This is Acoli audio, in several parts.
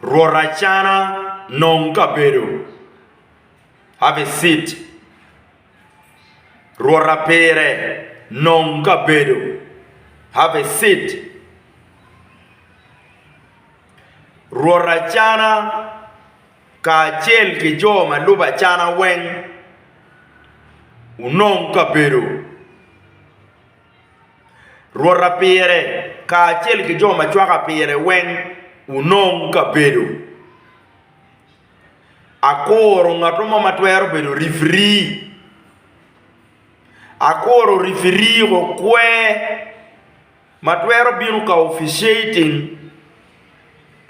Rwot acana nong kabedo, have a seat. Rwot apire nong kabedo, have a seat. Rwot acana kacel ki jo ma lubo acana weng wunong kabedo. Rwota pire kacel ki jo ma cwaka pire weng wunong kabedo. Akuro ngat mo ma twero bedo rifiri. Akuro rifiri okwe ma twero bino ka officiating.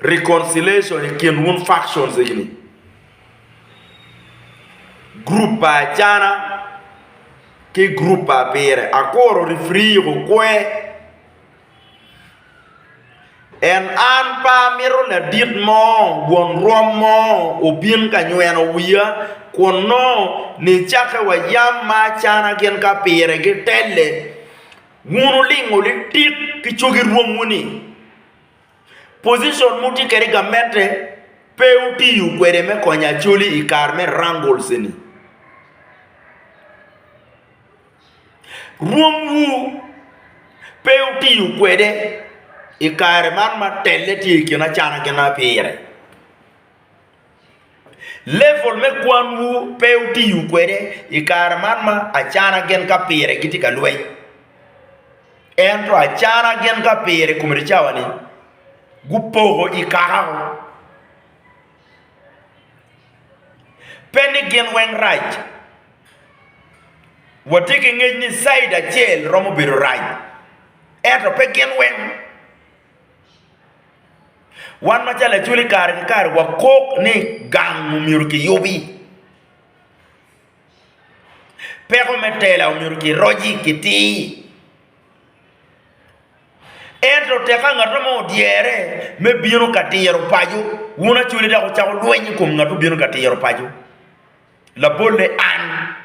reconciliation i kin wun factions egini, group pa Acana ki group pa Abire. Akuru referee okwe and an pe amito ladit mo won rwom mo obin ka nyweno wiya kun nongo nicakke wa yam ma Acana gin ki Abire gitelle, wun wulingo litit ki cogi rwomwu ni Position mutye kwede i gamente pe wutiyo kwede me konyo Acholi i kare me wrangles eni. Rwomwu pe wutiyo kwede i kare man ma telle tye i kin acana ki napire. Level me kwanwu pe wutiyo kwede i kare man ma acana gin ka pire gitye ka lweny. Ento acana gin ka pire i kom eni cawa-ni gupoko i kaka woko. Pe ni gin weng rac, watye ki ngec ni caid acel romo bedo rac, ento pe gin weng. Wan macalo Lacwec kare ki kare wakok ni gang omyero kiyubi, peko me tela omyero kiroci kitir. Ento teka ngat mo odyere me bino ka tiro paco, wun Acholi dok wucako lweny i kom ngat ma obino ka tiro paco, labolle an.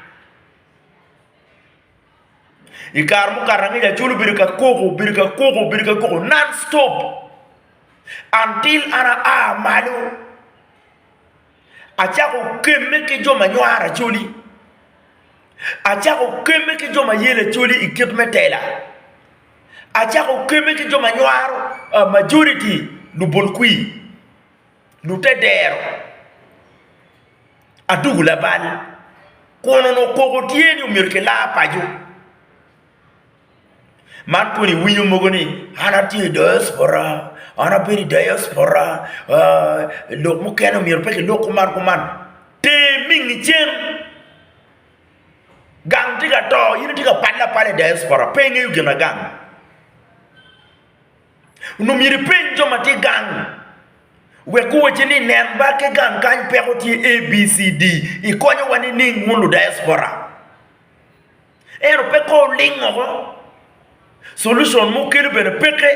I kare mukato angec acol obedo ka koko, obedo ka koko, obedo ka koko non stop until an aa malo acako kemme ki jo ma nywaro acoli, acako kemme ki jo ma yelo acoli i kit me tela, acako kemme ki jo ma nywaro majority lubol kwir. Lute dero adungu labal kun onongo koko tye ni omyero kilar paco. Man kong iwinyo mogo ni an atye i diaspora, an abedo i diaspora ooh lok mukene myero pe kilok kuman kuman. Ter mingi cen gang tye ka to in itye ka pale apala i diaspora pe ingeyo ginagang. Onongo myero ipeny jo ma tye gang wek guwacci ni nen ba ki gang kany peko tye ABCD ikonyowa nining wun ludayaspora? Ento pe kong wuling woko, culucon ma wukelo bene peke.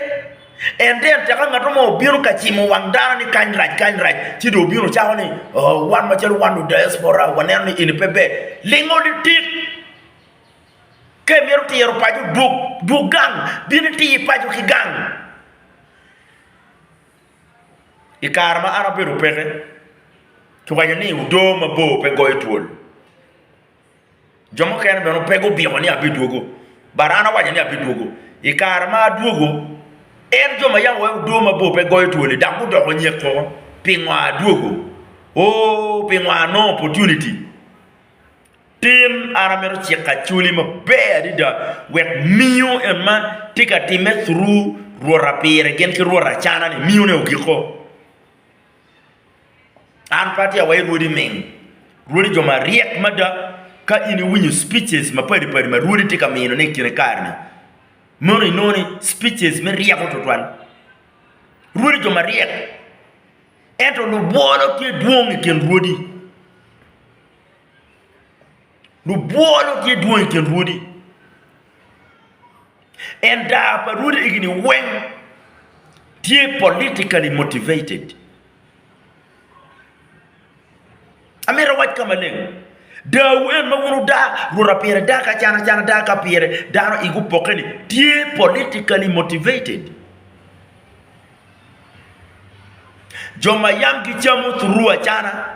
En tye en teka ngat mo obino ka cimo wang dano ni kany rac kany rac ci dong obino cako ni wan macalo wan ludayaspora waneno ni eni pe ber. Lingo litit! Ka imito tiro paco, dwog gang, bin iti paco ki gang. I kare ma an abedo peke, kiwaco ni odo mabor pe goyo twol. Jo mukene bene pe gubiko ni abidwogo, but an awaco ni abidwogo. I kare ma adwogo, en jo ma yam owaco ni odo mabor pe goyo twol-li dok gudoko nyek koko. Pingo adwogo? Oo, pingo anongo opportunity. Tin, an amito ciko acholi maber adada wek miyo en ma tye ka timme through rwota pire gin ki rwot acanani, miyone ogiko. An pe atye awayo rwodi ming, rwodi jo maryek mada. Ka in iwinyo speeches mapadi padi ma rwodi tye ka minone i kine kare-ni, mono inongo ni speeches me ryeko twatwal. Rwodi jo maryek, ento lubwolo tye dwong i kin rwodi. Lubwolo tye dwong i kin rwodi, and daa pa rwodi egini weng tye politically motivated. Amito awac ka maleng, daawu en ma wun wudaa, rwota pire daa ki acan acan, daa ka pire dano igi opokke-ni tye politically motivated. Jo ma yam gicamo through acana.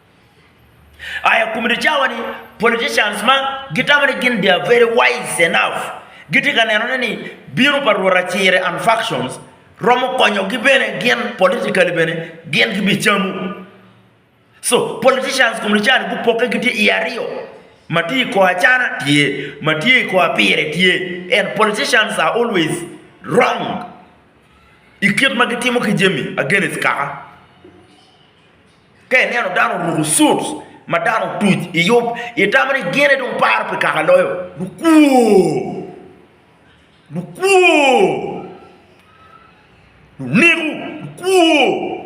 Aya i kom dye cawa-ni, politicians ma gitamo ni gin they are very wise enough gitye ka nenone ni bino pa Rwot Acire and factions romo konyogi bene gin politically bene gin gibicamo. So politicians i kom dye cani gupokke gitye i aryo, ma tye i kor acana tye, ma tye i kor pire tye and politicians are always wrong i kit ma gitimo ki jami against kaka. Ka ineno dano oruko suits ma dano otuc i yub, itamo ni gin aye dong paro pi kaka loyo lukwor, lukwor, luneko, lukwor.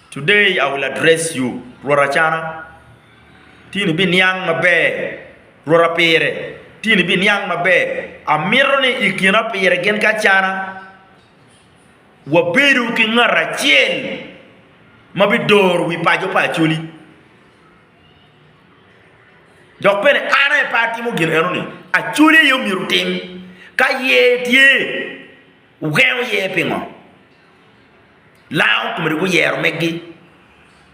Today I will address you, Rwot Acana, tin ibiniang maber, Rwot Apire, tin ibiniang maber. Amito ni i kina pire gin ki acana wabedo ki ngat acel ma bidoro wi paco pa Acholi. Dok bene an aye pe atimo gin enoni, Acholi aye omyero otim. Ka yer tye, wugengo yer pingo? Lango komedi guyero megi,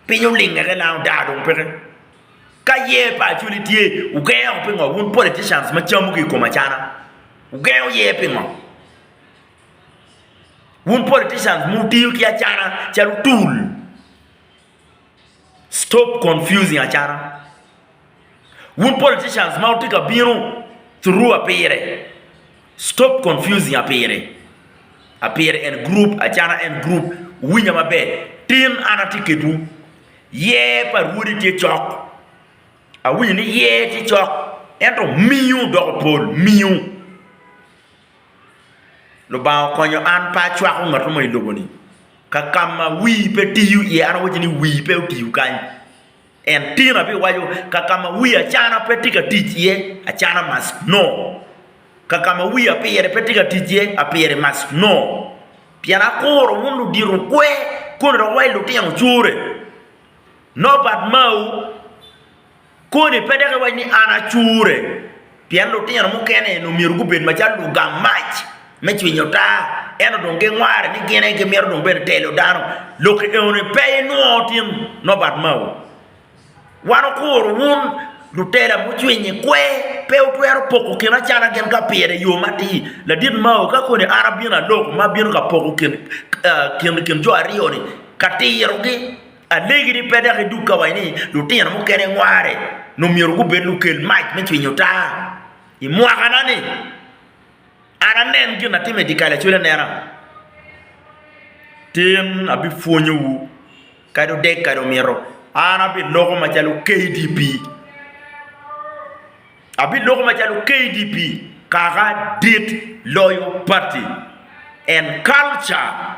piny olinge ki lango daa dong peke. Ka yer pa Acholi tye, wugengo pingo wun politicians ma camu ki i kom acana? Wugengo yer pingo? Wun politicians wutiyo ki acata calo tool. Stop confusing acata. Wun politicians ma wutye ka bino through Apire, stop confusing Apire. Apire en group, acata en group. Wuwinya maber, tin an atye kedwu. Yer pa Rwodi tye cok. Awinyo ni yer tye cok ento miyo doko pol, miyo. Lubanga okonyo an pe acwako ngat mo i lobo ni ka kama wii pe tiyo iye an awaco ni wii pe otiyo kany en tina bene iwaco ka kama wii acana pe tye ka tic iye acana must no ka kama wii apire pe tye ka tic iye apire must no pien akuro wun ludito kwer koni dong wa ilutino core no bad mau koni pe dok iwac ni an acure, pien lutino mukene onongo myero gubed macalo lugang mac me cwinyo taa, ento dong gingware ni gin aye gimito dong bene telo dano. Lok enoni pe inwongo tin nonbat mao. Wan okuro wun lutela mucwiny i kwer, pe wutwero poko kin acana gin ka pire i yo matir. Ladit mao ka koni an abino aloko ma abino ka poko kin jo aryo-ni ka tirogi. Alegi ni pe dok idug ka waci ni lutino mukene ngware nyo myero gubed lukel mac me cwinyo taa. I mwakana-ni, an anen gin atim i dyekal acwele anena. Tin abipwonyowu kadi odeg kadi omito, an abiloko macalo KDP. Abiloko macalo KDP kaka dit loyo pati and culture.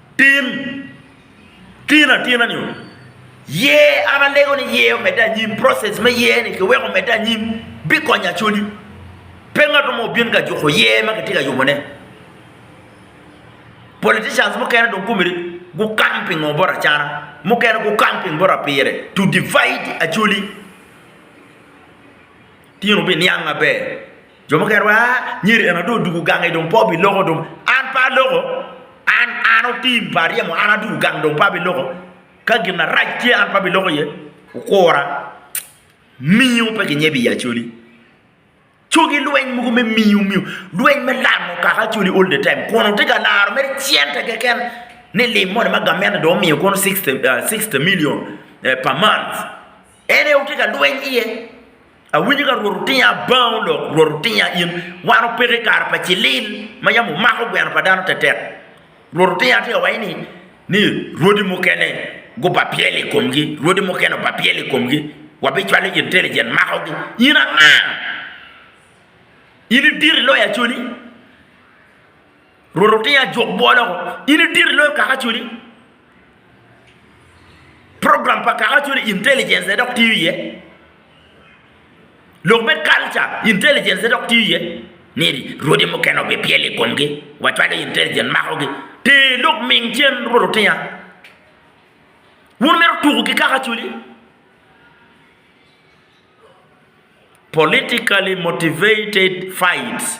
Tim tino atina nio yer an alego ni yer omedde anyim process me yer ni kiweko omedde anyim bikonyo Acholi pe ngato mo obin ka juko yer ma kitye ka yubo ne politicians mukene dong komgi gukang pingo bot acana mukene gukang ping bot apire to divide Acholi tino biniang maber. Jo mukene waco, aa, myero en dong odug gange dong pe obiloko dong. An pe aloko, an an otim pa aryemo an adwogo gang dong pe abiloko. Ka gin arac tye an pe abiloko iye, wukura. Miyo pe kinyebe i Acholi. Cogi lweny mogo me miyo miyo lweny me lamo kaka Acholi all the time kun wutye ka laro mere cente keken ni lim moni ma gamente dong omiyo kono sixty million per month. En aye wutye ka lweny iye. Awinyo ka Rwot otinya, Abangau lok, Rwot otinya in. Wan opeko i kare pa cilil, ma yam omako gweno pa dano tetek. Rwot otinya tye ka waco ni, ni rwodi mukene gubapyelo i komgi, rwodi mukene obapyelo i komgi, wabicwalo intelligent makogi. In anga? In idito iloyo Acholi? Rwot otye ajwok bwol oko. In idiri loyo kaka acoli. Program pa kaka acoli intelligence ne dok tiyo iye. Lok me culture intelligence ne dok tiyo iye. Ni rwodi mukene obipyelo i komgi wa cwalo intelligence makogi. Ter lok ming cen Rwot otinga. Wun mito tuku ki kaka acoli. Politically motivated fights.